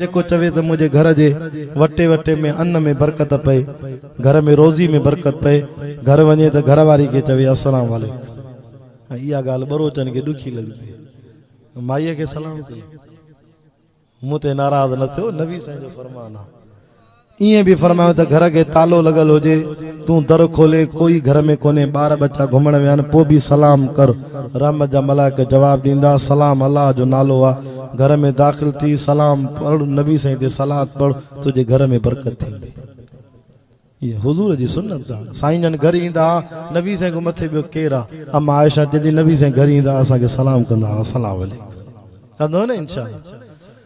جيڪو چوي ته منهنجي گهر جي وٽي وٽي ۾ ان ۾ برڪت پئي، گهر ۾ روزي ۾ برڪت پئي، گهر وڃي ته گهر واري کي چوي السلام عليڪم ۽ اها ڳالهه ٻروچن کي ڏکي لڳبي. مائيء کي سلام ڪيو. مون تي ناراض نه ٿيو، نبي سائين جو فرمان آهي. ائين به فرمايو ته گهر کي تالو لڳل هجي، تون در کولي، ڪوئي گهر ۾ ڪونهي، ٻار ٻچا گهمڻ ويا آهن، پوء به سلام ڪر، رحمت جا ملائڪ جواب ڏيندا، سلام الله جو نالو آهي، گهر ۾ داخل ٿي، سلام پڙهه، نبي سائين تي صلات پڙهه، تنهنجي گهر ۾ برڪت ٿيندي. هيء حضور جي سنت آهي. سائين جن گهر ايندا ها، نبي سائين کان مٿي ٻيو ڪير آهي؟ اما عائشه چوي ٿي، نبي سائين گهر ايندا ها، اسان کي سلام ڪندا ها، السلام عليڪم ڪندو نه انشاء الله.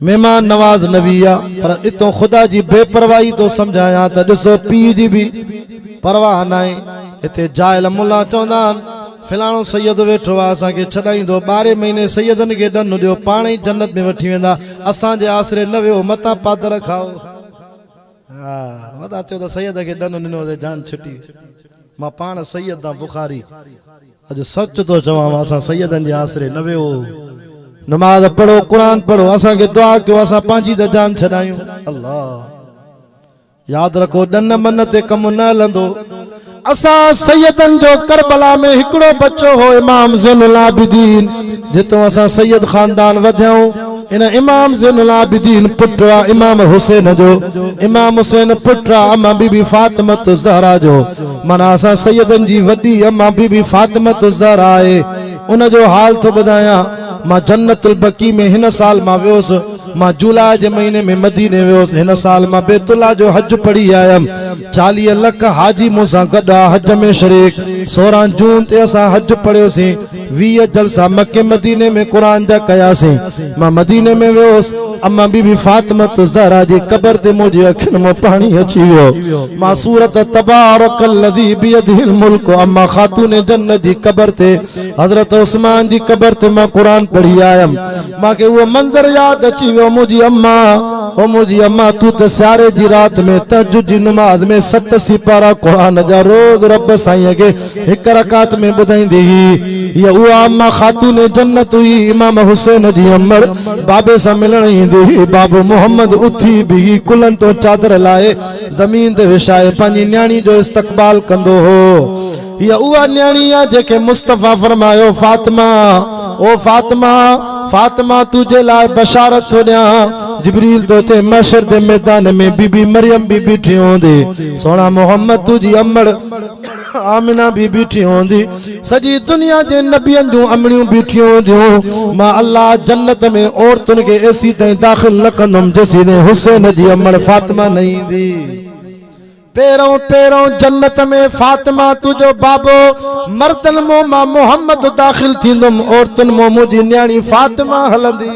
مهمان نواز نه ويئي آ پر اتون خدا جي بي پرواهي ٿو سمجهايان ته ڏسو پيء جي به پرواهه ناهي هتي جاهل ملا چوندا آهن فلاڻو سيد ويٺو آ اسان کي ڇڏائيندو ٻارهين مهيني سيدن کي ڏنو ڏيو پاڻ ئي جنت ۾ وٺي ويندا اسان جي آسري نه ويهو متان پادر کائو ها وڏا چئو ته سيد کي ڏنو ڏنو ته جان ڇٽي مان پاڻ سيد آ بخاري اڄ سچ ٿو چوان اسان سيدن جي آسري نه ويو نماز پڙهو قرآن پڙهو اسان کي دعا ڪيو اسان پنهنجي ته جان ڇڏايون الله ياد رکو ڏن من تي ڪم نه هلندو اسان سيدن جو کربلا ۾ هڪڙو بچو هو امام زين العابدين جتو اسان سيد خاندان وڌيائون ان امام زين العابدين پٽرا امام حسين جو امام حسين پٽرا اما بي بي فاطمه الزهرا جو معنيٰ اسان سيدن جي وڏي اما بي بي فاطمة الزهراء آهي ان جو حال ٿو ٻڌايان مان جنت البقيع ۾ هن سال مان ويوس مان جولاء جي مهيني ۾ مديني ويوس هن سال مان بيت الله جو حج پڙهي آيم چاليهه لک حاجي مون سان گڏ آ حج ۾ شريڪ سورهن جون تي اسان حج پڙهيوسين ويهه جلسا مڪي مديني ۾ قرآن جا ڪياسين. مان مديني ۾ ويس. اما بي بي فاطمة الزهراء جي قبر تي منهنجي اکين مان پاڻي اچي ويو. مان سورت تبارک الذي بيده الملڪ اما خاتون جنت جي قبر تي حضرت عثمان جي قبر تي مان قرآن پڙهي آيم. مان کي اهو منظر ياد اچي ويو منهنجي اما او منهنجي اما تون ته سياري جي رات ۾ تهجد جي نماز ۾ ست سيپارا قرآن جا روز رب سائين کي هڪ رڪعت ۾ ٻڌائيندي هئي. هيء اها اما خاتون جنت هئي، امام حسين جي امڙ بابي سان ملڻ ايندي هئي. بابو محمد اٿي بيهي ڪلهن تان چادر لاهي زمين تي وڇائي پنهنجي نياڻي جو استقبال ڪندو هو. هيء اها نياڻي آهي جنهن کي مصطفيٰ فرمايو، فاطمه! او فاطمه! فاطمه! تو جي لاء بشارت ٿو ڏيان. جبريل ٿو چئي، محشر جي ميدان ۾ بي بي مريم به بيٺي هوندي. سهڻا محمد! تو جي امڙ! آمنه به بيٺي هوندي، سڄي دنيا جي نبين جون امڙيون بيٺيون هونديون، مان الله جنت ۾ عورتن کي ايسي تائين داخل نه ڪندم جيسيتائين حسين جي امڙ فاطمه نه ايندي. پهرئون پهرئون جنت ۾ فاطمه تو جو بابو مردن مون مان محمد داخل ٿيندم عورتن مون منهنجي نياڻي فاطمه هلندي.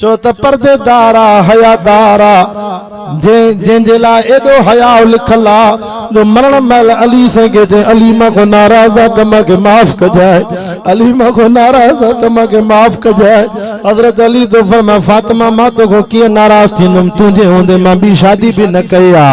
ڇو ته پردي دار آ، حيا دار آ، جنهن جنهن جي لاء ايڏو حياء لکيل آ جو مرڻ مهل علي سائين کي چئي علي مان کان ناراض آ ته مان کي معاف ڪجانء علي مان کان ناراض آ ته مان کي معاف ڪجانء حضرت علي ٿو فرمائي فاطمه مان تو کان ڪيئن ناراض ٿيندم تنهنجي هوندي مان ٻي شادي به نه ڪئي آ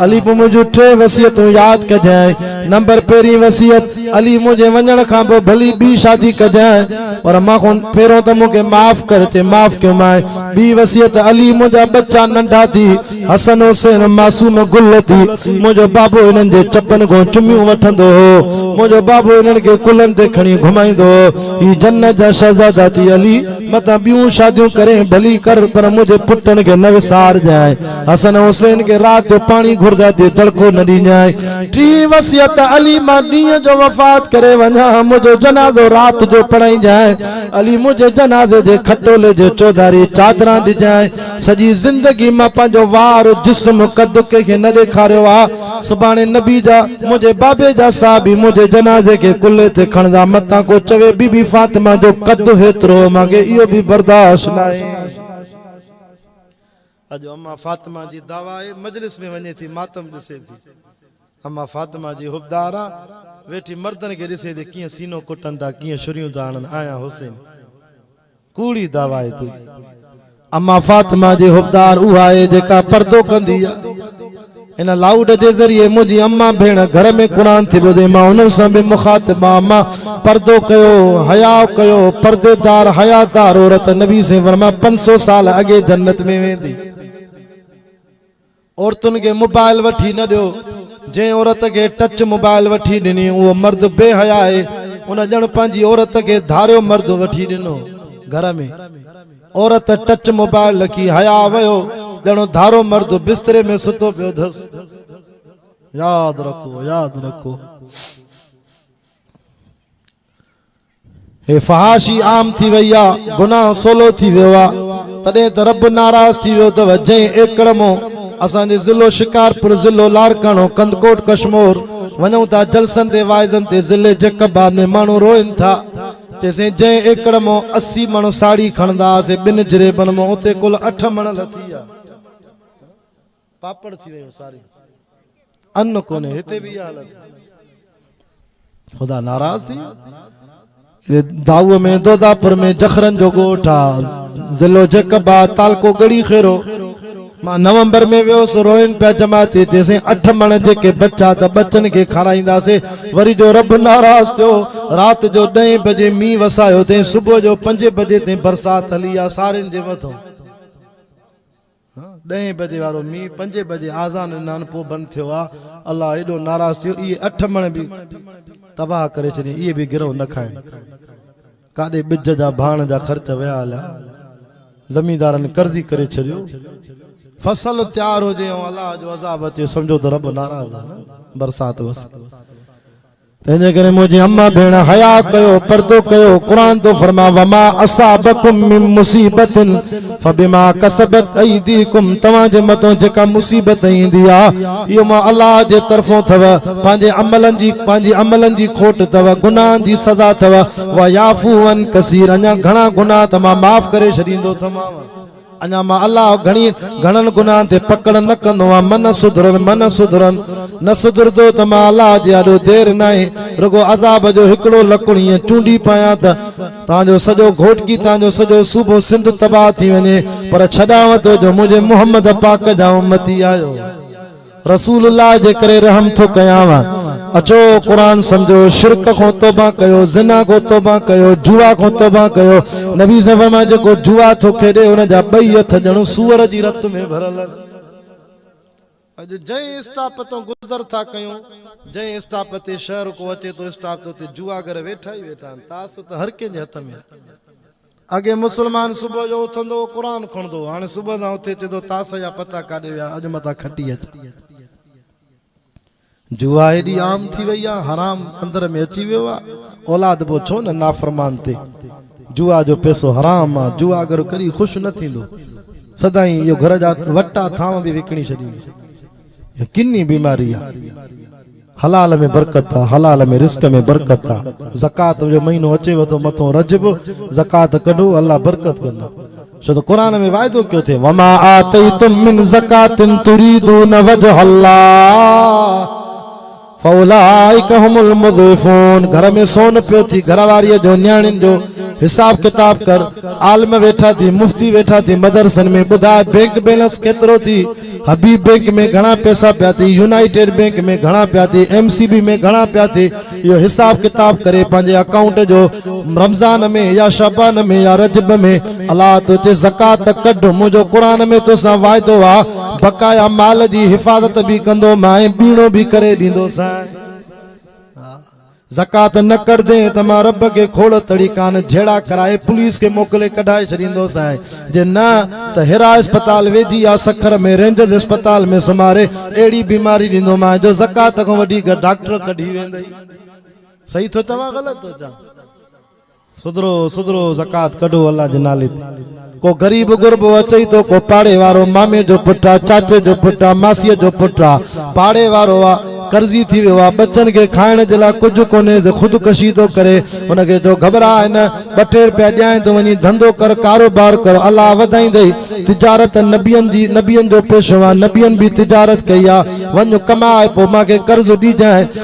علي پوء منهنجون ٽي وصيتون ياد ڪجانء نمبر پهرين وصيت علي منهنجي وڃڻ کان پوء ڀلي ٻي شادي ڪجانء، پر مان کان پهريون ته مون کي معاف ڪر چي معاف ڪيومانء. ٻي وصيت علي منهنجا ٻچا ننڍا ٿي، حسن حسين معصوم گل ٿي، منهنجو بابو هنن جي چپن کان چميون وٺندو هو. منهنجو بابو هنن کي ڪلهن تي کڻي گهمائيندو هو. هي جنت جا شهزادا ٿي علي متان ٻيون شاديون ڪرين ڀلي ڪر پر منهنجي پٽن کي نه وسارجانء. حسن حسين کي رات جو پاڻي گهردا دي دڙڪو نه ڏينجانء. ٽي وصيت علي مان ڏينهن جو وفات ڪري وڃان ها منهنجو جنازو رات جو پڙهائينجانء. علي منهنجي جنازي جي کٽولي جي چوڌاري چادران ڏجانء. سڄي زندگي مان پنهنجو وار، جسم، قد ڪنهن کي نه ڏيکاريو آ. سڀاڻي نبي جا، منهنجي بابي جا صحابي منهنجي جنازي کي ڪلهي تي کڻندا متان ڪو چوي بي بي فاطمه جو قد هيترو هو مانکي اهو به برداشت ناهي. اڄ اما فاطمه جي دعوائي مجلس ۾ وڃي ٿي ماتم ڏسي ٿي. اما فاطمه جي حبدارا ويٺي مردن کي ڏسي ٿي ڪيئن سينو ڪٽن ٿا ڪيئن شريون ٿا هڻن آيان حسين ڪوڙي دعوائي تنهنجي. اما فاطمه جي حبدار اها آهي جيڪا پردو ڪندي آ. هن لائوڊ جي ذريعي منهنجي امان ڀيڻ گهر ۾ قرآن ٿي ٻڌي، مان انهن سان به مخاطب آهيان، مان پردو ڪيو، حياء ڪيو، پرديدار، حيادار عورت، نبي صلعم فرمايو، پنج سؤ سال اڳي جنت ۾ ويندي. عورتن کي موبائل وٺي نه ڏيو، جنهن عورت کي ٽچ موبائل وٺي ڏني، اهو مرد بي حياء آهي، ان ڄڻ پنهنجي عورت کي ڌاريو مرد وٺي ڏنو، گهر ۾. عورت ٽچ موبائل رکي حياء ويو ڄڻو ڌارو مرد بستري ۾ ستو پيو اٿس. ياد رکو ياد رکو. هي فحاشي عام ٿي وئي آ گناهه سولو ٿي ويو آ تڏهن ته رب ناراض ٿي ويو اٿو جنهن ايڪڙ مون اسان جي ضلعو شڪارپور ضلعو لاڙڪاڻو ڪنڌڪوٽ ڪشمور وڃون ٿا جلسن تي واعظن تي ضلعي جيڪب آباد ۾ ماڻهو روئن ٿا چيسين جنهن ايڪڙ مان اسي مڻ ساڙي کڻندا سي ٻن جريبن مان اتي ڪل اٺ مڻ لٿي آ پاپڙ ٿي ويو ساري ان ڪونهي هتي به اها حالت خدا ناراض ٿي داو ۾ دوداپور ۾ جخرن جو ڳوٺ آ ضلعو جيڪب آ تعلقو ڳڙهي خيرو مان نومبر ۾ ويس روئن پيا جماعتي چيسين اٺ مڻ جيڪي بچا ته ٻچن کي کارائينداسي وري جو رب ناراض ٿيو رات جو ڏهين بجي مينهن وسايو تين صبح جو پنجين بجي تين برسات هلي آ سارين جي مٿو ڏهين بجي وارو مينهن پنجين بجي آذان ڏنان پو بند ٿيو آ الله ايڏو ناراض ٿيو اهي اٺ مڻ به تباهه ڪري ڇڏين اهي به گرهو نه کائين ڪاڏي ٻج جا ڀاڻ جا خرچ ويا هليا. زميندارن قرضي ڪري ڇڏيو. فصل تيار هجي ۽ الله جو عذاب اچي سمجهو ته رب ناراض آهي نه برسات وسي. تنهنجي ڪري منهنجي امان ڀيڻ حياء ڪيو پردو ڪيو قرآن ٿو فرمائي وما اصابڪم من مصيبت فبما کسبت ايديڪم توهان جي مٿان جيڪا مصيبت ايندي آ اهو مان الله جي طرفون ٿو پنهنجي عملن جي پنهنجي عملن جي کوٽ ٿو گناهن جي سزا ٿو ويعفو عن ڪثير اڃا گهڻا گناهه ته مان معاف ڪري ڇڏيندو ٿومانو اڃا مان الله گهڻي گهڻن گناهن تي پڪڙ نه ڪندو آ من سڌرن من سڌرن نه سڌردو ته مان الله جي آڏو دير ناهي رڳو عذاب جو هڪڙو لڪڻ ايئن چونڊي پايان ته تان جو سڄو گهوٽڪي تان جو سڄو صوبو سنڌ تباهه ٿي وڃي پر ڇڏانء ٿو جو منهنجي محمد پاڪ جا امتي آهيو رسول الله جي ڪري رحم ٿو ڪيانء اچو قرآن سمجهو شرڪ کون توبه ڪيو زنا کون توبه ڪيو جوا کون توبه ڪيو نبي صلي الله عليه جيڪو جوا ٿو کيڏي ان جا ٻئي هٿ ڄڻ سوئر جي رت ۾ ڀريل اڄ جنهن اسٽاپ تان گذر ٿا ڪيون، جنهن اسٽاپ تي شهر ڪو اچي ٿو اسٽاپ تي اتي جوئاگر ويٺا ئي ويٺا آهن، تاثر ته هر ڪنهن جي هٿ ۾ آهي. اڳي مسلمان صبح جو اٿندو هو قرآن کڻندو هو، هاڻي صبح سان اٿي چئي ٿو تاثر جا پتا ڪاڏي ويا اڄ متان کٽي اچان. جوا ايڏي عام ٿي وئي آ حرام اندر ۾ اچي ويو آ اولاد بو ڇو نه نافرمان تي جوا جو پيسو حرام آ جواگر ڪڏي خوش نه ٿيندو سدائين اهو گهر جا وٽا ٿانو به وڪڻي ڇڏيندو اهو ڪني بيماري آ حلال ۾ برڪت آ حلال ۾ رزق ۾ برڪت آ زڪوات جو مهينو اچيو ٿو مٿو رجب زڪوات ڪڍو الله برڪت ڪندو ڇو ته قرآن ۾ وعدو ڪيو اٿئي وما آتيتم من زڪات تريدون وجه الله فاولئک هم المضعفون گهر ۾ سون پيو ٿي گهر واري جو نياڻين جو حساب ڪتاب ڪر عالم ويٺا ٿي مفتي ويٺا ٿي مدرسن ۾ ٻڌاء بينڪ بيلنس ڪيترو ٿي حبيب بئنڪ ۾ گهڻا پئسا پيا ٿي، يونائيٽيڊ بئنڪ ۾ گهڻا پيا ٿي، ايم سي بي ۾ گهڻا پيا ٿي، اهو حساب ڪتاب ڪري پنهنجي اڪائونٽ جو رمضان ۾ يا شعبان ۾ يا رجب ۾ الله ٿو چئي زڪوات ته ڪڍ، منهنجو قرآن ۾ توسان واعدو آ، بقايا مال جي حفاظت به ڪندومانء ۽ ٻيڻو به ڪري ڏيندوسانء. زڪوات نه ڪڍدين ته مان رب کي کوڙ تڙي ڪان جهيڙا ڪرائي پوليس کي موڪلي ڪڍائي ڇڏيندوس ۽ جي نه ته هيرا اسپتال ويجهي يا سکر ۾ رينجرز اسپتال ۾ سمهاري اهڙي بيماري ڏيندومانء جو زڪوات کان وڏي ڊاڪٽر ڪڍي ويندئي. صحيح ٿو چوان غلط ٿو چوان؟ سڌرو سڌرو زڪوات ڪڍو الله جي نالي تي. ڪو غريب غربو اچئي ٿو ڪو پاڙي وارو مامي جو پٽ آ چاچي جو پٽ آ ماسيء جو پٽ آ پاڙي وارو آ قرضي ٿي ويو آ ٻچن کي کائڻ جي لاء ڪجهه ڪونهي سي خود ڪشي ٿو ڪري ان کي چئو گهٻرا نه ٻه ٽي روپيا ڏيانء تون وڃي ڌنڌو ڪر ڪاروبار ڪر الله وڌائيندئي تجارت نبين جي نبين جو پيشو آ نبين به تجارت ڪئي آ وڃ ڪماء پوء مان کي قرض ڏيجانء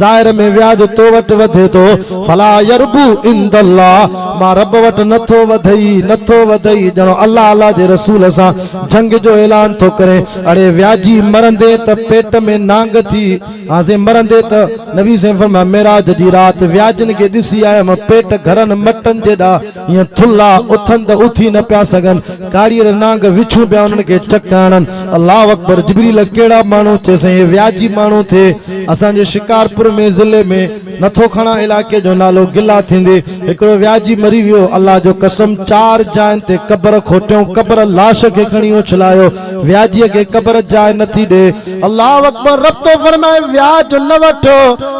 ظاهر ۾ وياج تو وٽ وڌي ٿو فلا يربو عند الله مان رب وٽ نه ٿو وڌئي نه ٿو وڌئي ڄڻو الله الله جي رسول سان جنگ جو اعلان ٿو ڪرين اڙي وياجي مرندي ته پيٽ ۾ نانگ ٿي ها سين مرندي ته نبي سين فرمايو معراج جي رات وياجن کي ڏسي آيم پيٽ گهرن مٽن جيڏا ائين ٿلها اٿن ته اٿي نه پيا سگهن، ڪاڙيل نانگ وڇون پيا انهن کي چڪ هڻن. الله اڪبر جبريل ڪهڙا ماڻهو ٿئي سائين هي وياجي ماڻهو ٿئي اسان جي شڪارپور ۾ ضلعي ۾ نٿو کڻان علائقي جو نالو گلا ٿيندي هڪڙو وياجي مري ويو الله جو قسم چار جاين تي قبر کوٽيون قبر لاش کي کڻي اڇلايو وياجيء کي قبر جاء نه ٿي ڏي. الله اڪبر رب ٿو فرمائي وياج نه وٺ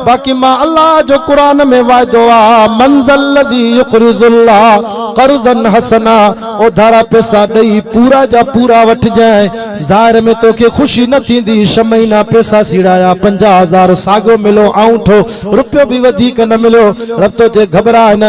باقي مان الله جو قرآن ۾ وعدو آ من ذا الذي يقرض الله قرضا حسنا اوڌارا پئسا ڏئي پورا جا پورا وٺجانء ظاهر ۾ توکي خوشي نه ٿيندي ڇهه مهينا پئسا سيڙايا پنجاهه هزار ساڳيو مليو آئونٺو رپيو به وڌيڪ نه مليو رب توکي گهٻراء نه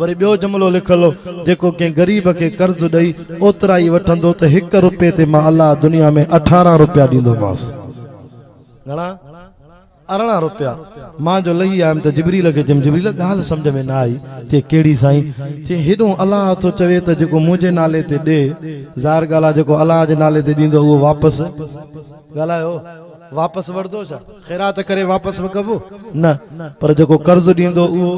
وري ٻيو جملو لکل هو، جيڪو ڪنهن غريب کي قرض ڏئي، اوترا ئي وٺندو ته هڪ رپئي تي مان الله دنيا ۾ اٺارهن رپيا ڏيندومانس. گهڻا؟ ارڙهن رپيا. مان جو لهي آيم ته جبريل کي چيم، جبريل ڳالهه سمجهه ۾ نه آئي. چي، ڪهڙي سائين؟ چي، هيڏنهون الله ٿو چوي ته جيڪو منهنجي نالي تي ڏي، ظاهر ڳالهه آ جيڪو الله جي نالي تي ڏيندو اهو واپس ڳالهايو. واپس وڙھندو ڇا؟ خيرات ڪري واپس وڳبو؟ نه، پر جيڪو قرض ڏيندو اھو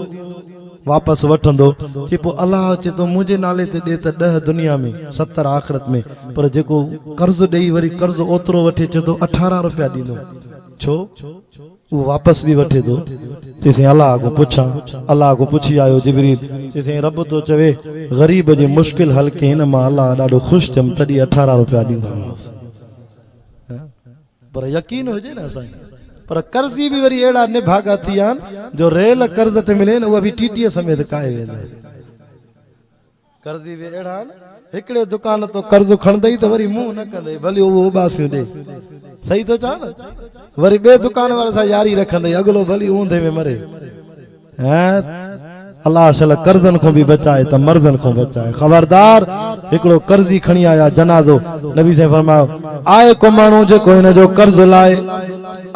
واپس وٺندو. چي پوء الله چي ٿو منھنجي نالي تي ڏي ته ڏهه دنيا ۾، ستر آخرت ۾، پر جيڪو قرض ڏئي وري قرض اوترو وٺي چي ٿو اٺارهن روپيا ڏيندوم ڇو؟ اھو واپس به وٺي ٿو. چي سائين الله کان پڇان؟ الله کان پڇي آيو جبريل چي سائين رب ٿو چوي غريب جي مشڪل حل ڪين مان الله ڏاڍو خوش ٿيم تڏھن اٺارهن روپيا ڏيندومانس. پر يقين هجي نه اسان کي پر قرضي به وري اهڙا نڀاڳا ٿي ويا آهن جو ريل قرض تي ملي نه اها به ٽي ٽي سميت ڪاهي ويندي قرضي به اهڙا آهن هڪڙي دڪان تو قرض کڻندي ته وري منهن نه ڪندي ڀلي اهو اباسيون ڏي صحيح ٿو چان نه وري ٻي دڪان واري سان ياري رکندي اڳلو ڀلي اوندهي ۾ مري هين الله شل قرضن کون به بچائي ته مرضن کون بچائي خبردار هڪڙو قرضي کڻي آيا جنازو نبي سائين فرمايو آء ڪو ماڻهو جيڪو هن جو قرض لائي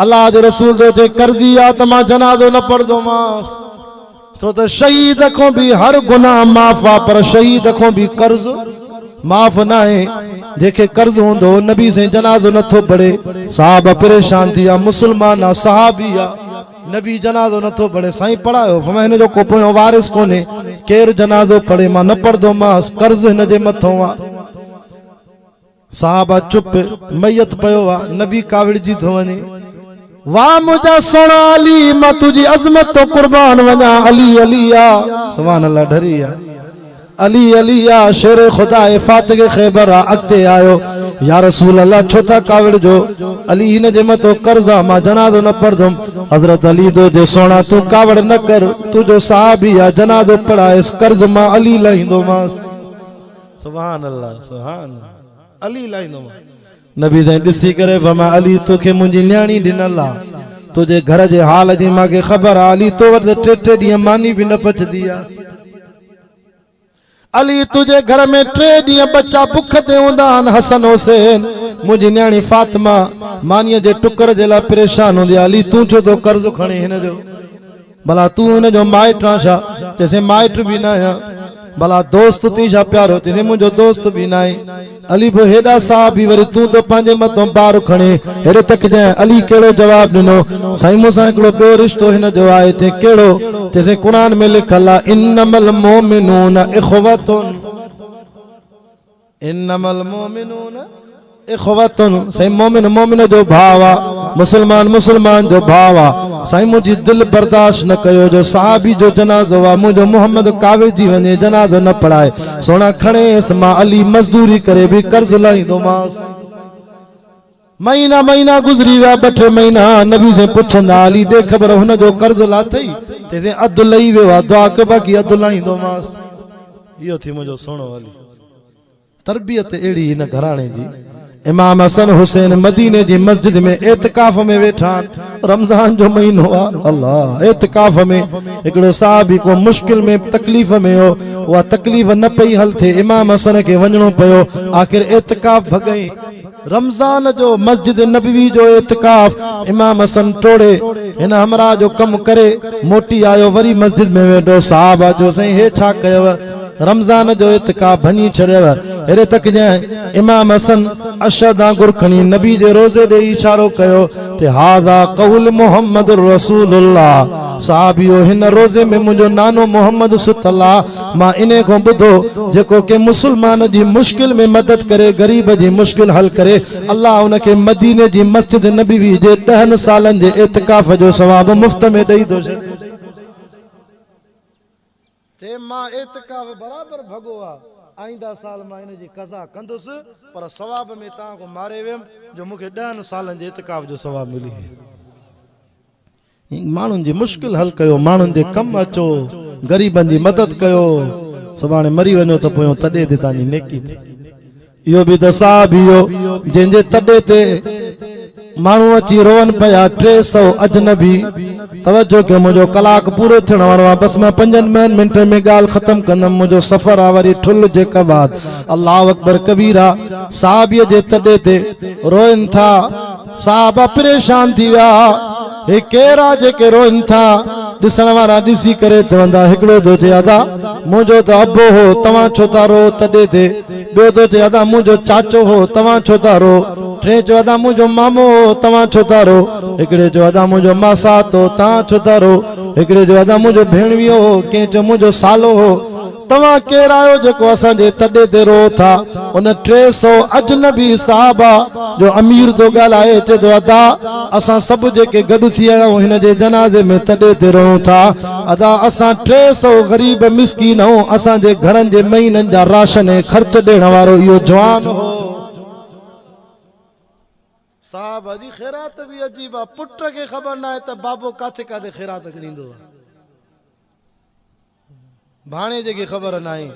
الله جي رسول جو جي قرضي آ ته مان جنازو نه پڙهندو ماس سو ته شهيد کون به هر گناهه معاف آ پر شهيد کون به قرض معاف نه آهي جنهن کي قرض هوندو نبي سائين جنازو نٿو پڙهي صحابه پريشان ٿي ويا مسلمان آ صحابي آ نبي جنازو نه ٿو پڙهي سائين پڙهايو فرمايو هن جو ڪو پويون وارث ڪونهي ڪير جنازو پڙهي مان نه پڙهندو مانس قرض هن جي مٿون آ صحابه چپ ميت پيو آ نبي ڪاوڙجي ٿو وڃي واھ منهنجا سهڻا علي مان تنهنجي عظمت تو قربان وڃان علي علي آ سبحان الله ڍري آ علي علي يا شير خدا اي فاتح خيبر آ اڳتي آيو يا رسول الله ڇو ٿا ڪاوڙجو علي هن جي مٿو قرض آ مان جنازو نه پڙهندم حضرت علي دو جي سهڻا تون ڪاوڙ نه ڪر تنهنجو صحابي آ جنازو پڙهائيس قرض مان علي لاهيندومانس سبحان الله سبحان الله علي لاهيندومانس نبي جنهن ڏسي ڪري فرمايو علي توکي منهنجي نياڻي ڏنل آ تنهنجي گهر جي حال جي مان کي خبر آ علي تو وٽ ته ٽي ٽي ڏينهن ماني به نه پچدي آ علي تنهنجي گهر ۾ ٽي ڏينهن ٻچا بک تي هوندا آهن حسن حسين منهنجي نياڻي فاطمه مانيء جي ٽڪر جي لاء پريشان هوندي آ علي تون ڇو ٿو قرض کڻين هن جو ڀلا تون هن جو مائٽ آن ڇا؟ چيسين مائٽ به نه آهيان. ڀلا دوست ٿين ڇا پيارو؟ چيسين منهنجو دوست به نه آهين. علي به هيڏا ساهه ڀي وري تون ته پنهنجي مٿو بار کڻي هيڏي تڪجين. علي ڪهڙو جواب ڏنو؟ سائين مون سان هڪڙو ٻيو رشتو هن جو آهي. چيائين ڪهڙو؟ چيسين قرآن ۾ لکل آهي انما المومنون اخوة. انما المؤمنون اخوة سائين مؤمن مؤمن جو ڀاء آ مسلمان مسلمان جو ڀاء آ سائين منهنجي دل برداشت نه ڪيو جو صحابي جو جنازو آ منهنجو محمد ڪاوڙ جي وڃي جنازو نه پڙهائي سهڻا کڻيس مان علي مزدوري ڪري به قرض لاهيندومانس. مهينا مهينا گذري ويا، ٻه ٽي مهينا، نبي سين پڇندا علي ڏي خبر هن جو قرض لاٿئي؟ چيسين اڌ لهي ويو آهي، دعا ڪيو باقي اڌ لاهيندومانس. اهو ٿي منهنجو سهڻو علي. تربيت اهڙي هن گهراڻي جي. امام حسن حسين مديني جي مسجد ۾ اعتڪاف ۾ ويٺا آهن. رمضان جو مهينو آهي. الله! اعتڪاف ۾ هڪڙو صحابي ڪو مشڪل ۾ تڪليف ۾ هو. اها تڪليف نه پئي حل ٿئي، امام حسن کي وڃڻو پيو. آخر اعتڪاف ڀڳئين. رمضان جو مسجد نبوي جو اعتڪاف امام حسن ٽوڙي هن همراهه جو ڪم ڪري موٽي آيو وري مسجد ۾ ويٺو صحابه جو سائين هي ڇا ڪيو رمضان جو اعتڪاف ڀڃي ڇڏيو هيڏي تڪ جنهن امام حسن اشهد آنگر کڻي نبي جي روضي ڏي اشارو ڪيو ته هذا قول محمد رسول الله صحابيو هن روضي ۾ منهنجو نانو محمد ستل آ مان انهي کان ٻڌو جيڪو ڪنهن مسلمان جي مشڪل ۾ مدد ڪري غريب جي مشڪل حل ڪري الله ان کي مديني جي مسجد نبوي جي ڏهن سالن جي اعتڪاف جو ثواب مفت ۾ ڏئي ٿو ڇڏي چي مان اعتڪاف برابر ڀڳو آ، آئينده سال مان ان جي قضا ڪندس، پر ثواب ۾ توهان کان ماري ويم، جو مون کي ڏهن سالن جي اعتڪاف جو ثواب ملي ويو. ماڻهن جي مشڪل حل ڪيو، ماڻهن جي ڪم اچو، غريبن جي مدد ڪيو، سڀاڻي مري وڃو ته پويون تڏي تي توهان جي نيڪي ٿئي. اهو به ته ساهه ڀيو جنهن جي تڏي تي ماڻهو اچي روئن پيا ٽي سؤ اجنبي توجه ڪيو منهنجو ڪلاڪ پورو ٿيڻ وارو آ بس مان پنجن مئن منٽن ۾ ڳالهه ختم ڪندم منهنجو سفر آ وري ٺل جي ڪواد الله اڪبر ڪبيرا صحابي جي تڏي تي روئن ٿا. صحابه پريشان ٿي ويا، هي ڪير آ جيڪي روئن ٿا؟ ڏسڻ وارا ڏسي ڪري چوندا، هڪڙو ٿو چئي ادا منهنجو ته ابو هو توهان ڇو ٿا روئو تڏي تي، ٻيو ٿو چئي ادا منهنجو چاچو هو توهان ڇو ٿا روئو، ٽئين چيو ادا منهنجو مامو هو توهان ڇو ٿا روئو، هڪڙي چيو ادا منهنجو ماسات هو توهان ڇو ٿا روئو، هڪڙي چيو ادا منهنجو ڀيڻويو هو، ڪنهن چيو منهنجو سالو هو. توهان ڪير آهيو جيڪو اسان جي تڏي تي روئو ٿا؟ ان ٽي سؤ اجنبي صحابه جو امير ٿو ڳالهائي، چئي ٿو، ادا! اسان سڀ جيڪي گڏ ٿي آيا آهيون، هن جي جنازي ۾ تڏي تي روئون ٿا. ادا! اسان ٽي سؤ غريب مسڪين آهيون، اسان جي گهرن جي مهينن جا راشن ۽ خرچ ڏيڻ وارو اهو جوان هو. صحابه جي خيرات به عجيب آ، پٽ کي خبر ناهي ته بابو ڪاٿي ڪاٿي خيرات ڳڻيندو آ. ڀاڻيجي کي خبر ناهي،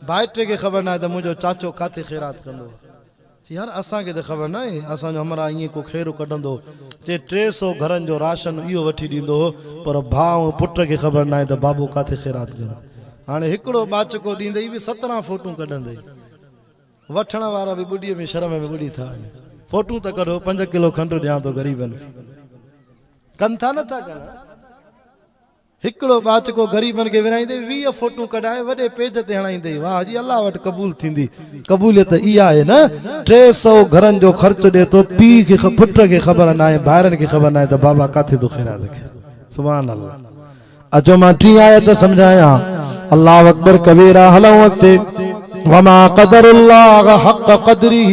ڀائٽي کي خبر ناهي ته منهنجو چاچو ڪاٿي خيرات ڪندو. چي يار اسان کي ته خبر ناهي، اسان جو همراهه ائين ڪو خيرو ڪڍندو چي ٽي سو گهرن جو راشن اهو وٺي ڏيندو هو، پر ڀاء ۽ پٽ کي خبر ناهي ته بابو ڪاٿي خيرات ڪندو. هاڻي هڪڙو ٻاچڪو ڏيندي به سترهن فوٽون ڪڍندي. وٺڻ وارا به ٻڏيء ۾ شرم ۾ ٻڏي ٿا وڃن. فوٽون ته ڪڍو، پنج ڪلو کنڊ ڏيان ٿو غريبن کي. ڪن ٿا نٿا ڪن. هڪڙو ٻاچڪو غريبن کي ورهائيندي ويهه فوٽون ڪڍائي وڏي پيج تي هڻائيندي واهه جي الله وٽ قبول ٿيندي قبوليت اها آهي نه ٽي سئو گهرن جو خرچ ڏي ٿو پيء کي پٽ کي خبر ناهي ڀائرن کي خبر ناهي ته بابا ڪاٿي ٿو خيرات رکي سبحان الله اچو مان ٽين آيت سمجهايان الله اڪبر ڪبيرا هلون اڳتي وما قدر الله حق قدره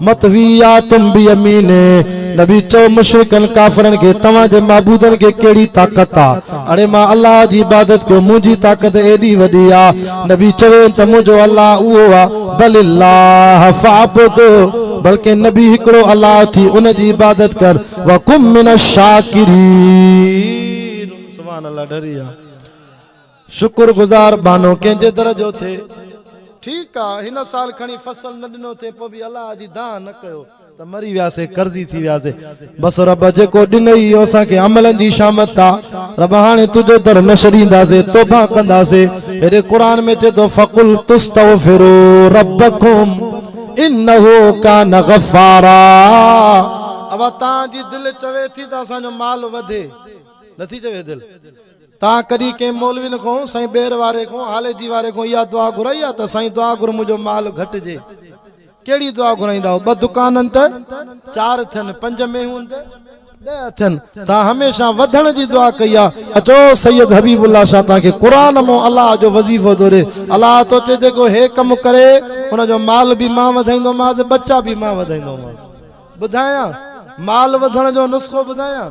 مطوياتم بيمينه، نبي چؤ مشرڪن ڪافرن کي، توهان جي معبودن کي ڪهڙي طاقت آ؟ اڙي مان الله جي عبادت ڪيو، منهنجي طاقت ايڏي وڏي آ. نبي چوين ته منهنجو الله اهو آ، بل الله فاعبد، بلڪه نبي هڪڙو الله ٿي ان جي عبادت ڪر، وڪن من الشاڪرين. سبحان الله ڍري آ. شڪر گذار بانو ڪنهن جي در جو ٿي. ٺيڪ آ هن سال کڻي فصل نه ڏنو ٿي پوء به الله جي دانهن نه ڪيو ته مري وياسي قرضي ٿي وياسي بس رب جيڪو ڏنئي اهو اسان کي عملن جي شامت آ رب هاڻي تنهنجو در نه ڇڏينداسي توبه ڪنداسي هيڏي قرآن ۾ چئي ٿو فقلت استغفرو ربکم انه ڪان غفارا اوهان جي دل چوي ٿي ته اسان جو مال وڌي نٿي چوي دل. توهان ڪڏهن ڪنهن مولوين کون، سائين ٻير واري کون، هاليجي واري کون اها دعا گهرائي آهي ته سائين دعا گهر منهنجو مال گهٽجي؟ ڪهڙي دعا گهرائيندا آهيو؟ ٻه دڪان آهن ته چار ٿين، پنج مينهون ته ڏهه ٿين. توهان هميشه وڌڻ جي دعا ڪئي آهي. اچو سيد حبيب الله شاهه توهان کي قرآن مون الله جو وظيفو ٿو ڏي. الله ٿو چئي جيڪو هي ڪم ڪري ان جو مال به مان وڌائيندومانس، ٻچا به مان وڌائيندومانس. ٻڌايان؟ مال وڌڻ جو نسخو ٻڌايان؟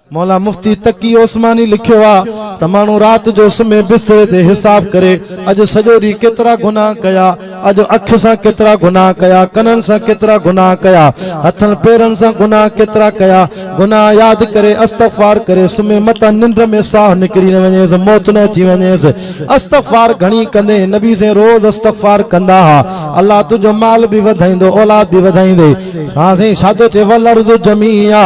مولا مفتي تقي عثماني لکيو آ ته ماڻهو رات جو سمهي بستري تي حساب ڪري اڄ سڄو ڏينهن ڪيترا گناهه ڪيا، اڄ اک سان ڪيترا گناهه ڪيا، ڪنن سان ڪيترا گناهه ڪيا، هٿن پيرن سان گناهه ڪيترا ڪيا، گناهه ياد ڪري استغفار ڪري سمهي متان ننڊ ۾ ساهه نڪري نه وڃيس موت نه اچي وڃيس استغفار گهڻي ڪندي نبي سين روز استغفار ڪندا ها الله تنهنجو مال به وڌائيندو اولاد به وڌائيندي ها سائين شاهه ٿو چئي والارض جميعا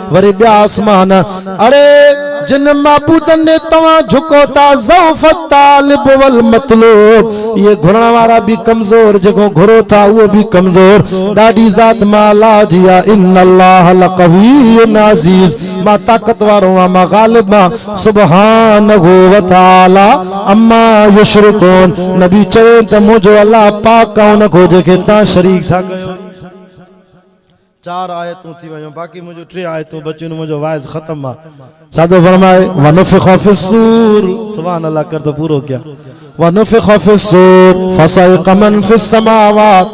وري ٻيا آسمان، اڙي! جن معبودن ڏي توهان جهڪو ٿا، ضعف الطالب والمطلوب، اهي گهرڻ وارا به ڪمزور، جيڪو گهرو ٿا اهو به ڪمزور، ڏاڍي ذات مان الله جي آ، ان الله لقوي عزيز، مان طاقت وارو آهيان، مان غالب آهيان، سبحانه وتعالي عما يشرڪون، نبي چوين ته منهنجو الله پاڪ آهي ان کان جنهن کي توهان شريڪ ٿا ڪيو. چار آيتون ٿي ويون باقي منهنجون ٽي آيتون بچيون ته منهنجو واعظ ختم آ ڇا ٿو فرمائي ونفخ في الصور سبحان الله ڪر ته پورو ڪيان ونفخ في الصور فصعق من في السماوات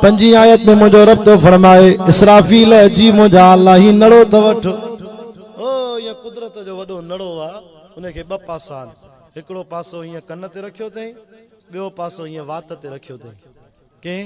پنجين آيت ۾ منهنجو رب ٿو فرمائي اسرافيل جي منهنجا الله هي نڙو ته وٺ او هي قدرت جو وڏو نڙو آ ان کي ٻه پاسا آهن هڪڙو پاسو هيئن ڪن تي رکيو اٿئي ٻيو پاسو هيئن وات تي رکيو اٿئي ڪئين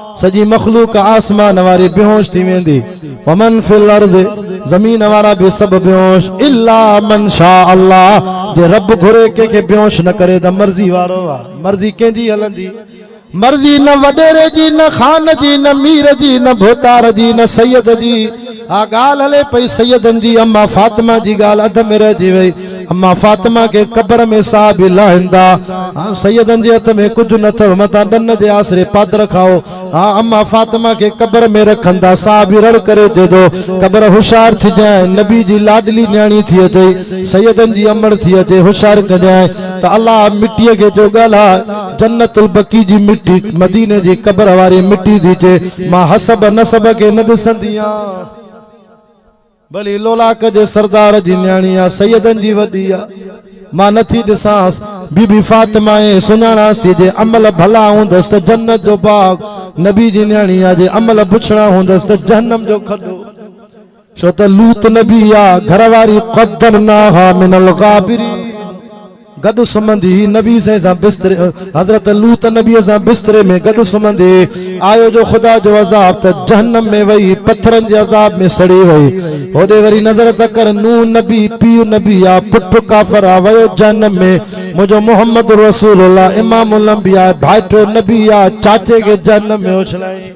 سڄي مخلوق آسمان واري بيهوش ٿي ويندي، ومن في الارض زمين وارا به سڀ بيهوش الا من شاء الله جي رب گهري ڪنهن کي بيهوش نه ڪري ته مرضي وارو آ مرضي ڪنهن جي هلندي، مرضي نه وڏيري جي نه خان جي نه مير جي نه ڀوتار جي نه سيد جي. اھا ڳالھھ ھلي پئي سيدن جي اما فاطمه جي ڳالھھ اڌ ۾ رھجي وئي اما فاطمه کي قبر ۾ صحابي لاھيندا ھا سيدن جي ھٿ ۾ ڪجھھ نھ اٿو متان ڏن جي آسري پادر کائو ھا اما فاطمه کي قبر ۾ رکندا صحابي رڙ ڪري جيدو قبر ھوشيار ٿجانء نبي جي لاڏلي نياڻي ٿي اچئي سيدن جي امڙ ٿي اچي ھوشيار ڪجانء تھ الله مٽيء کي جو ڳالھھ جنت البقيع جي مٽي مديني جي قبر واري مٽي ٿي چئي مان حسب نسب کي نه ڏسندي آ ڀلي لولاڪ جي سردار جي نياڻي آ سيدن جي وڏي آ مان نه ٿي ڏسانس بي بي فاطمه اي سڃاڻاس ٿي جي عمل ڀلا هوندس ته جنت جو باغ نبي جي نياڻي آ جي عمل بڇڙا هوندس ته جهنم جو کڏو ڇو ته لوط نبي جا گهر واري قدرناها من الغابرين گڏ سمهندي هئي نبي سائين سان بستري حضرت لوط نبي سان بستري ۾ گڏ سمهندي آيو جو خدا جو عذاب ته جهنم ۾ وئي پٿرن جي عذاب ۾ سڙي وئي هوڏي وري نظر ته ڪر نوح نبي پيء نبي آ پٽ ڪافر آ ويو جهنم ۾ منهنجو محمد رسول الله امام الانبياء ڀائٽو نبي آ چاچي کي جهنم ۾ اڇلائين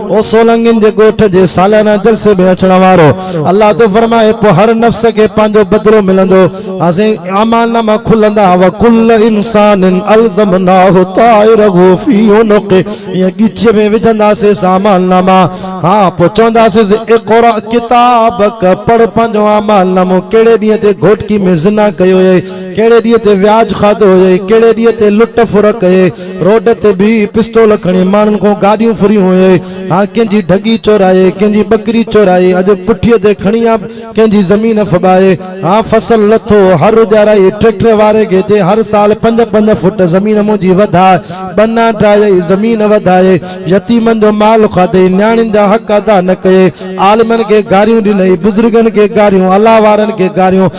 هو سولنگين جي ڳوٺ جي ساليانه جلسي ۾ اچڻ وارو الله ٿو فرمائي پوء هر نفس کي پنهنجو بدلو ملندو اسين اعمال ناما کلندا وڪل انسان الزمناه طائره في عنقه ائين ڳچيء ۾ وجهنداسيس اعمال ناما ها پوء چونداسيس اقرا ڪتابڪ پڙهه پنهنجو اعمال نامو ڪهڙي ڏينهن تي گهوٽڪي ۾ زنا ڪئي هئي ڪهڙي ڏينهن تي وياج کاڌو هئي ڪهڙي ڏينهن تي لٽ ڦر ڪئي روڊ تي بيهي پستول کڻي ماڻهن کان گاڏيون ڦريون هئي ها ڪنهن جي ڍڳي چورائي ڪنهن جي ٻڪري چورائي اڄ پٺيء تي کڻي ها ڪنهن جي زمين ڦٻائي ها فصل لٿو هر اجارائي ٽريڪٽر واري کي چئي هر سال پنج پنج فوٽ زمين منهنجي وڌاء ٻنا ڊرائي زمين وڌائي يتيمن جو مال کاڌئي نياڻين جا حق ادا نه ڪيئي عالمن کي گاريون ڏنئي بزرگن کي گاريون الله وارن کي گاريون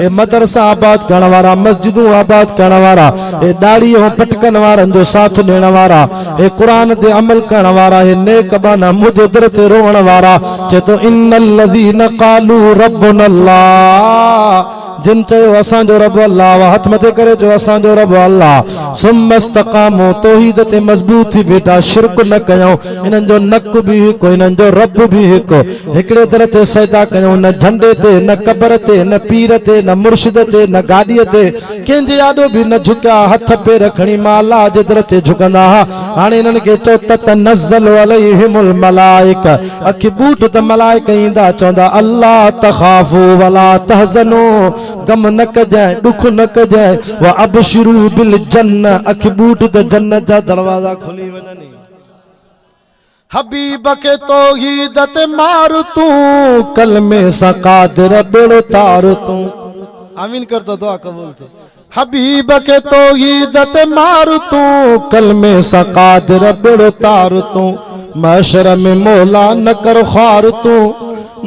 اي مدرسا آباد ڪرڻ وارا، مسجدون آباد ڪرڻ وارا، اي ڏاڙهي ۽ پٽڪن وارن جو ساٿ ڏيڻ وارا، اي قرآن تي عمل ڪرڻ وارا، اي نيڪ ٻانها منهنجي در تي روئڻ وارا، چئي ٿو، ان الذين قالو ربنا الله، جن چيو اسان جو رب الله آ، هٿ مٿي ڪري چئو اسان جو رب الله، ثم استقاموا، توحيد تي مضبوط ٿي بيٺا، شرڪ نه ڪيائون، انهن جو نڪ به هڪ، انهن جو رب به هڪ. هڪڙي در تي سجدا ڪيون، نه جهنڊي تي، نه قبر تي، نه پير تي، نه مرشد تي، نه گاڏيء تي، ڪنهن جي آڏو به نه جهڪيا، هٿ پير کڻي مان الله جي در تي جهڪندا ها، هاڻي انهن کي چئو، تتنزل عليهم الملائڪة، اکي ٻوٽ ته ملائڪ ايندا چوندا، الا تخافو ولا تحزنو، غم نه ڪجانء، ڏک نه ڪجانء، وابشرو بالجنة، اکي ٻوٽ ته جنت جا دروازا کلي وڃن ئي. حبيب کي توحيد تي مار تون ڪلمي سان قادر ٻيڙو تار تون. آمين ڪر ته دعا قبول ٿئي. حبيب کي توحيد تي مار تون ڪلمي سان قادر ٻيڙو تار تون. محشر ۾ مولا نه ڪر خوار تون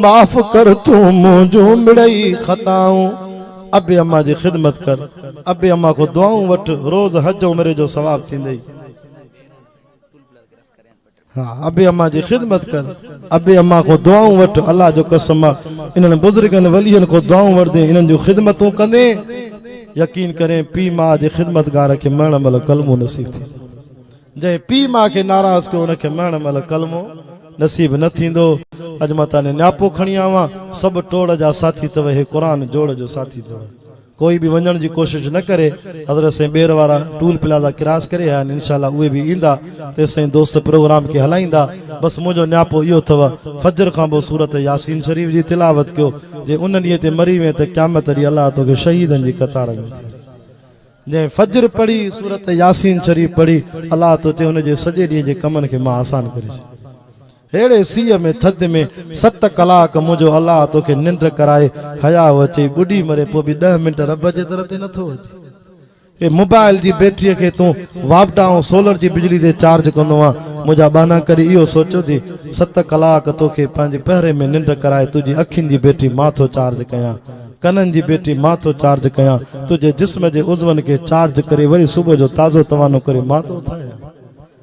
معاف ڪر تون منهنجون مڙئي خطائون. ابي اما جي خدمت ڪر ابي اما کان دعائون وٺ روز حج عمري جو ثواب ٿيندئي. ها ابي اما جي خدمت ڪر ابي اما کان دعائون وٺ الله جو قسم انهن بزرگن ولين کان دعائون وٺندين انهن جون خدمتون ڪندين يقين ڪرين پي ماء جي خدمتگار کي مرڻ مهل ڪلمو نصيب ٿي جنهن پي ماء کي ناراض ڪيو ان کي مرڻ مهل ڪلمو نصيب نه ٿيندو اڄ مان تاني نياپو کڻي آوان سڀ ٽوڙ جا ساٿي اٿو هي قرآن جوڙ جو ساٿي اٿو ڪوئي به وڃڻ جي ڪوشش نه ڪري حضرت سائين ٻير وارا ٽول پلازا ڪراس ڪري آيا آهن انشاء الله اهي به ايندا تيستائين دوست پروگرام کي هلائيندا بس منهنجو نياپو اهو اٿو فجر کان پوء سورت ياسين شريف جي تلاوت ڪيو جي ان ڏينهن تي مري وئين ته قيامت ڏينهن الله توکي شهيدن جي قطار ۾ اٿاري جنهن فجر پڙهي سورت ياسين شريف پڙهي الله تو چي ان جي سڄي ڏينهن جي ڪمن کي مان آسان ڪري ڇڏيان. ههڙي سيء ۾ ٿڌ ۾ ست ڪلاڪ منهنجو الله توکي ننڊ ڪرائي حياء اچئي ٻڏي مري پوء به ڏهه منٽ رب جي در تي نه ٿو اچين. هي موبائل جي بيٽري کي تون واپڊا ۽ سولر جي بجلي تي چارج ڪندو آن منهنجا ٻانها ڪڏهن اهو سوچيو ٿي ست ڪلاڪ توکي پنهنجي پهري ۾ ننڊ ڪرائي تنهنجي اکين جي بيٽري مان ٿو چارج ڪيان ڪنن جي بيٽري مان ٿو چارج ڪيان تنهنجي جسم جي عضون کي چارج ڪري وري صبح جو تازو توانو ڪري مان ٿو اٿايان.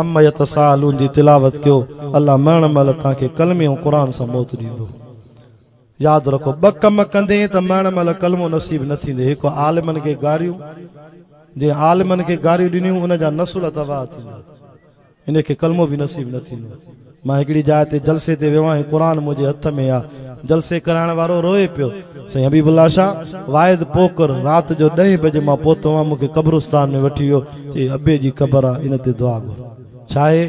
عما يتساءلون جي تلاوت ڪيو الله مرڻ مهل توهان کي ڪلمي ۽ قرآن سان موت ڏيندو ياد رکو ٻه ڪم ڪندين ته مرڻ مهل ڪلمو نصيب نه ٿيندي هڪ عالمن کي گاريون جنهن عالمن کي گاريون ڏنيون ان جا نسل تباهه ٿيندا ان کي ڪلمو به نصيب نه ٿيندو مان هڪڙي جاء تي جلسي تي ويو آهيان قرآن منهنجي هٿ ۾ آ جلسي ڪرائڻ وارو روئي پيو سائين حبيب الله شاهه واعظ پوڪر رات جو ڏهين بجي مان پهتو هئم مون کي قبرستان ۾ وٺي ويو چي ابي جي قبر آ ان تي دعا گهر ڇاهي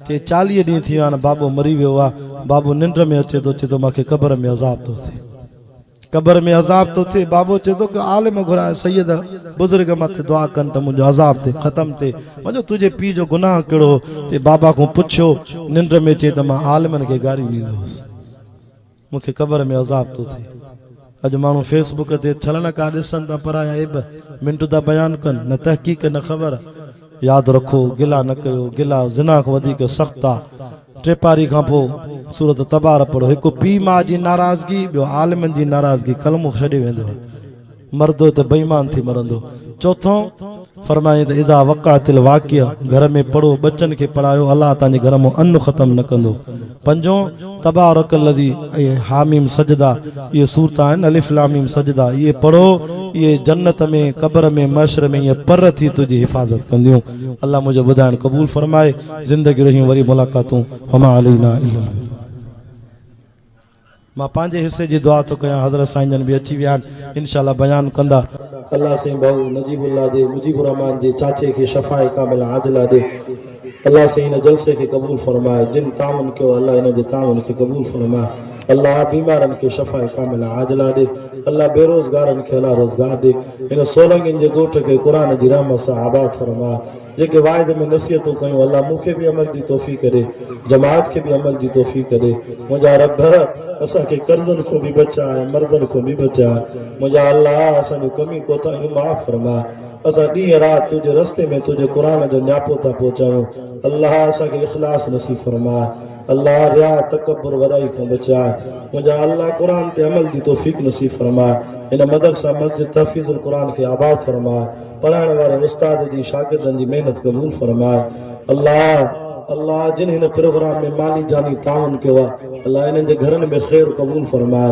چي چاليهه ڏينهن ٿي ويا آهن بابو مري ويو آ بابو ننڊ ۾ اچي ٿو چي ٿو مان کي قبر ۾ عذاب ٿو ٿئي. قبر ۾ عذاب ٿو ٿئي بابو چئي ٿو ڪو عالم گهرايان سيد بزرگ مان ته دعا ڪن ته منهنجو عذاب ٿي ختم ٿئي منهنجو تنهنجي پيء جو گناهه ڪهڙو هو تي بابا کان پڇيو ننڊ ۾ چئي ته مان عالمن کي گاريون ڏيندو هوس مون کي قبر ۾ عذاب ٿو ٿئي اڄ ماڻهو فيس بڪ تي ڇلڻ ڪا ڏسن ته پرايا عيب منٽ ٿا بيان ڪن نه تحقيق نه خبر ياد رکو گلا نه ڪيو گلا زنا کان وڌيڪ سخت آ ٽي پاري کان پوء سورة تبارة پڙهو. هڪ پيء ماء جي ناراضگي، ٻيو عالمن جي ناراضگي ڪلمو ڇڏي ويندو آهي. مردو ته بي ايمان ٿي مرندو. چوٿون، فرمايائين ته اذا وقعت الواقعة گهر ۾ پڙهو، ٻچن کي پڙهايو، الله تهان جي گهر مان ان ختم نه ڪندو. پنجون، تبارک الذي ۽ حاميم سجده اهي سورتون آهن، الف لام ميم سجده، اهي پڙهو، اهي جنت ۾، قبر ۾، محشر ۾ ائين پر ٿي تنهنجي حفاظت ڪنديون. الله منهنجو ٻڌائڻ قبول فرمائي زندگي رهيون وري ملاقاتون وما علينا الا البلاغ. مان پنهنجي حصي جي دعا ٿو ڪيان حضرت سائين جن به اچي ويا آهن انشاء الله بيان ڪندا. الله سائين ڀائو نجيب الله جي مجيب الرحمان جي چاچي کي شفاء ڪامله عاجله ڏي الله سائين هن جلسي کي قبول فرمائي جن تعاون ڪيو الله انهن جي تعاون کي قبول فرمائي. الله بيمارن کي شفاء ڪامله عاجله ڏي الله بيروزگارن کي حلال روزگار ڏي هن سولنگين جي ڳوٺ کي قرآن جي رحمت سان آباد فرماء جيڪي واعظ ۾ نصيحتون ڪيون الله مون کي به عمل جي توفيق ڏي جماعت کي به عمل جي توفيق ڏي منهنجا رب اسان کي قرضن کون به بچاء ۽ مرضن کون به بچاء منهنجا الله اسان جون ڪميون ڪوتاهيون معاف فرماء اسان ڏينهن رات تنهنجي رستي ۾ تنهنجي قرآن جو نياپو ٿا پهچايون الله اسان کي اخلاص نصيب فرماء. الله رياء تڪبر وڏائي کان بچائي منهنجا الله قرآن تي عمل جي توفيق نصيب فرماء هن مدرسه مسجد تحفيظ القرآن کي آباد فرماء پڙهائڻ واري استاد جي شاگردن جي محنت قبول فرماء الله الله جن هن پروگرام ۾ مالي جاني تعاون ڪيو آ الله انهن جي گهرن ۾ خير قبول فرماء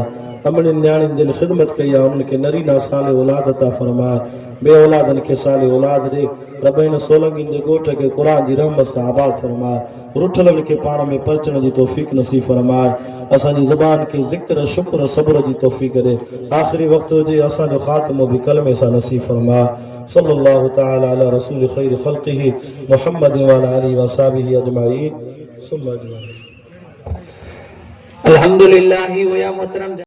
امڙين نياڻين جن خدمت ڪئي آ انهن کي نرينا صالح اولاد عطا فرماء بي اولادن کي صالح اولاد ڏي رب هن سولنگين جي ڳوٺ کي قرآن جي رحمت سان آباد فرماء رٺلن کي پاڻ ۾ پرچڻ جي توفيق نصيب فرماء اسان جي زبان کي ذڪر شڪر صبر جي توفيق ڏي آخري وقت هجي اسان جو خاتمو به ڪلمي سان نصيب فرماء صلّي الله تعالٰي علي رسول خير خلقه محمّد وعلٰي آله واصحابه اجمعين ثم اجمعين. الحمدللّٰه هو يا محترم.